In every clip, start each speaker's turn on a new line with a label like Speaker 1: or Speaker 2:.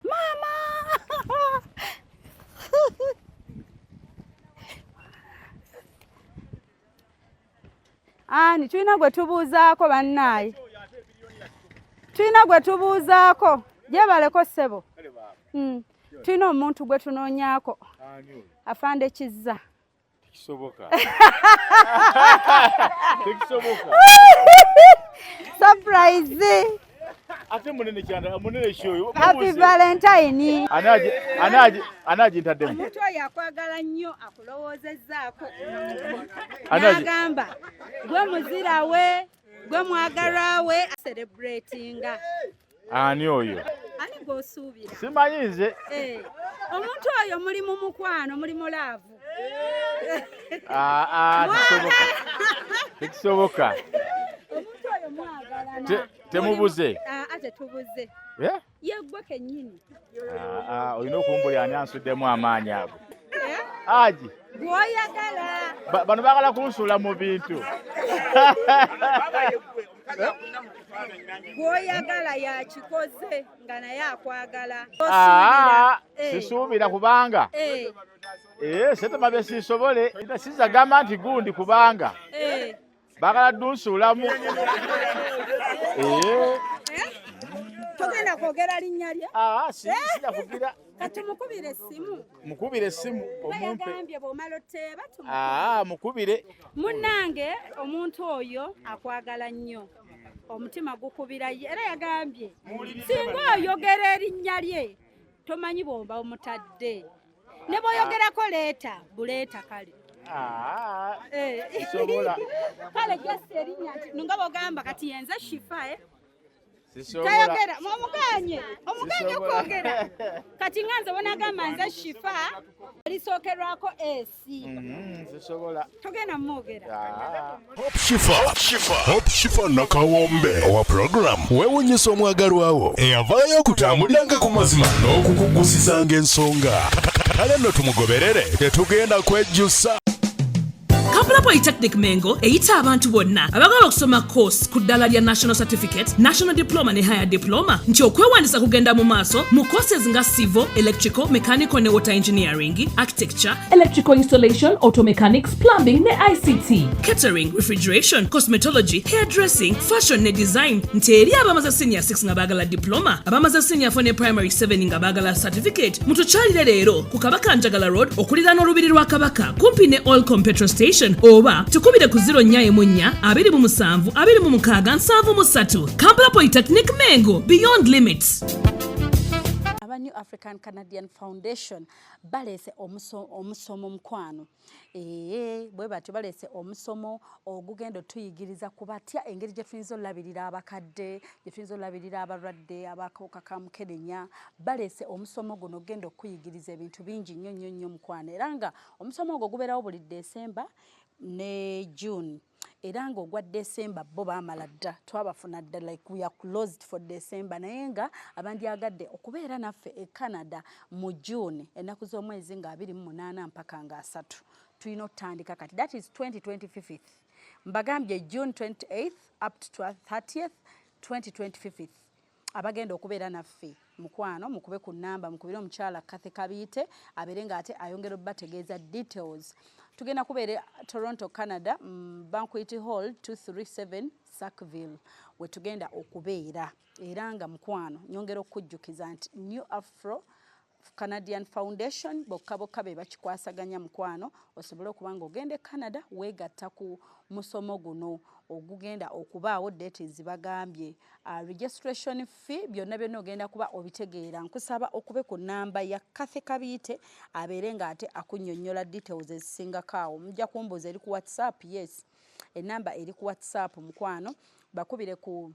Speaker 1: Mama! Ani tulina gwe tubuuzaako bannaaye, tulina gwe tubuuzaako gyebaleko ssebo, hmm. tulina omuntu gwe tunoonyaako afande Kizza. Tekisoboka.
Speaker 2: Tekisoboka.
Speaker 1: Surprise. Ate
Speaker 2: munene kyanda munene shoyo. Happy Valentine.
Speaker 1: Anaje anaje
Speaker 2: anaje ntadde. Omuntu yakwagala
Speaker 1: nnyo akulowoozezzaako. Anaje. Agamba gwe muzira we. gwe mwagalwa we celebratinga ani
Speaker 2: oyo ani gwosuubira
Speaker 1: simanyi nze
Speaker 2: eh, omuntu
Speaker 1: oyo muli mu mukwano muli mu laavu ah,
Speaker 2: ah, tekisoboka
Speaker 1: omuntu oyo mwagalana temubuze
Speaker 2: ah, tetubuze
Speaker 1: yeggwe kennyini ah, ah,
Speaker 2: olina okumbuli ani ansuddemu amaanyi ago eh? aji gwoyagala
Speaker 1: bano bagala
Speaker 2: kunsuula mu bintu
Speaker 1: gwoyagala yakikoze nga naye akwagala ah, eh.
Speaker 2: sisuubira kubanga eh. setema bye sisobole sizagamba nti gundi kubanga bagala dunsuulamu eh?
Speaker 1: togenda kwogera linnya lye ah, ah, sijakugira
Speaker 2: eh? katumukubire
Speaker 1: essimu mukubire essimu
Speaker 2: omumpe bwomala oteeba
Speaker 1: ah, mukubire
Speaker 2: munnange
Speaker 1: omuntu oyo akwagala nnyo omutima gukubira ye era yagambye singa oyogera erinnya lye tomanyi bwomba omutadde ne boyogerako leeta buleeta kale ah, eh.
Speaker 2: kale just
Speaker 1: erinya nga bogamba kati yenze shifa eh?
Speaker 2: tayogera
Speaker 1: omuganye omuganye okwogera kati nga nze bonagamba nze shifa lisookerwako esi mm-hmm,
Speaker 2: togenda mumwogera
Speaker 1: ah. Hope Shifa, Hope
Speaker 3: Shifa, Hope Shifa nakawombe owa program wewunyisa omwagalwawo eyavaayo okutambuliranga ku mazima n'okukuggusizanga ensonga kale nno tumugoberere tetugenda kwejjusa
Speaker 4: kampala polytechnic mengo eyita abantu bonna abagala okusoma course ku ddala lya national certificate national diploma ne higher diploma nti okwewandisa kugenda mu maaso mu courses nga civil electrical mechanical ne water engineering architecture electrical installation automechanics plumbing ne ict catering refrigeration cosmetology hairdressing fashion ne design nti eri abamaze senior 6 nga baagala diploma abamaze senior 4 ne primary 7 nga baagala certificate mutukyalire leero ku kabaka njagala road okulira n'olubiri lwa kabaka kumpi ne olcom petrol station oba tukubire ku 0 nya emu nnya abiri mu musanvu abiri mu mukaaga nsanvu mu ssatu kampala polytechnic mengo beyond limits
Speaker 1: aba new african canadian foundation baleese omusomo omukwano Eeh, bwe batyo baleese omusomo ogugenda otuyigiriza ku batya engeri gye tuyinza olabirira abakadde, gye tuyinza olabirira abalwadde abakawuka ka mukenenya. Baleese omusomo guno ogenda okuyigiriza ebintu bingi nnyo nnyo nnyo mukwano era nga omusomo ogwo gubeerawo buli December ne June. era nga ogwa December bo baamala dda twabafuna dda like we are closed for December naye nga abandyagadde okubeera naffe e Canada mu June ennaku z'omwezi nga abiri mu munaana mpaka nga asatu tulina otutandika kati that is 2025 mbagambye June 28 up to 30th 2025 Abagenda okubeera naffe mukwano mukube ku namba mukubire omukyala Kathy Kabiite abeere nga ate ayongera obategeeza details. Tugenda kubeera Toronto, Canada, mm, Banquet Hall 237 Sackville we tugenda okubeera era nga mukwano nyongera okujjukiza nti New Afro Canadian Foundation bokka bokka be bakikwasaganya mukwano osobole okuba nga ogenda e Canada weegatta ku musomo guno ogugenda okubaawo date zibagambye uh, registration fee byonna byonna ogenda kuba obitegeera nkusaba okube ku namba ya Cathy Kabiite abeere ng'ate akunnyonnyola details ezisingako awo mujja kumbuuza eri ku whatsapp yes enamba eri ku whatsapp mukwano bakubire ku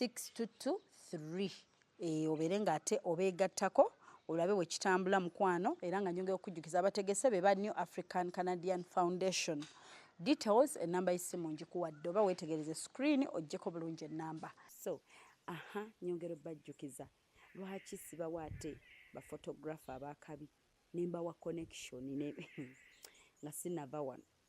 Speaker 1: 6 to 2 3 eh, obeere ng'ate obeegattako olabe we kitambula mukwano era nga nyongera okujjukiza abategese be ba new african canadian foundation details enamba y'essimu ngikuwadde oba weetegereze screen ojjeko bulungi ennamba so aha nyongera obajjukiza lwaki sibawa ate bafotografe abakabi nembawa connection nga sinava wano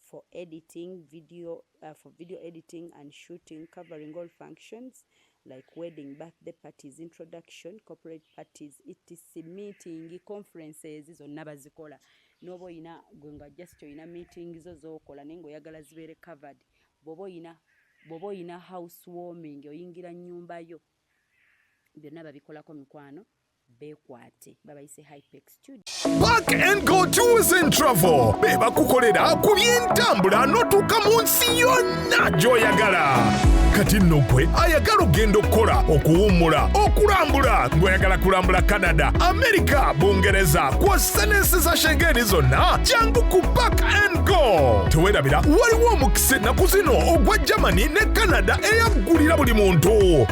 Speaker 1: for editing video uh, for video editing and shooting covering all functions like wedding birthday parties introduction corporate parties etc meeting conferences zonna bazikola noba oyina gwe nga just oyina meeting zo zokola naye ngaoyagala zibeere covered bwoba oyina bwoba oyina house warming oyingira nyumba yo byonna babikolako mikwano bekwate babayise hypex studio Park and Go
Speaker 3: Tours and Travel be bakukolera ku by'entambula n'otuuka mu nsi yonna gy'oyagala kati nno gwe ayagala okugenda okukola okuwummula okulambula ng'oyagala kulambula canada amerika bungereza kw'ossa n'ensi za shengeni zonna jangu ku park and go tewerabira waliwo omukisa ennaku zino ogwa germany ne canada eyaggulira buli muntu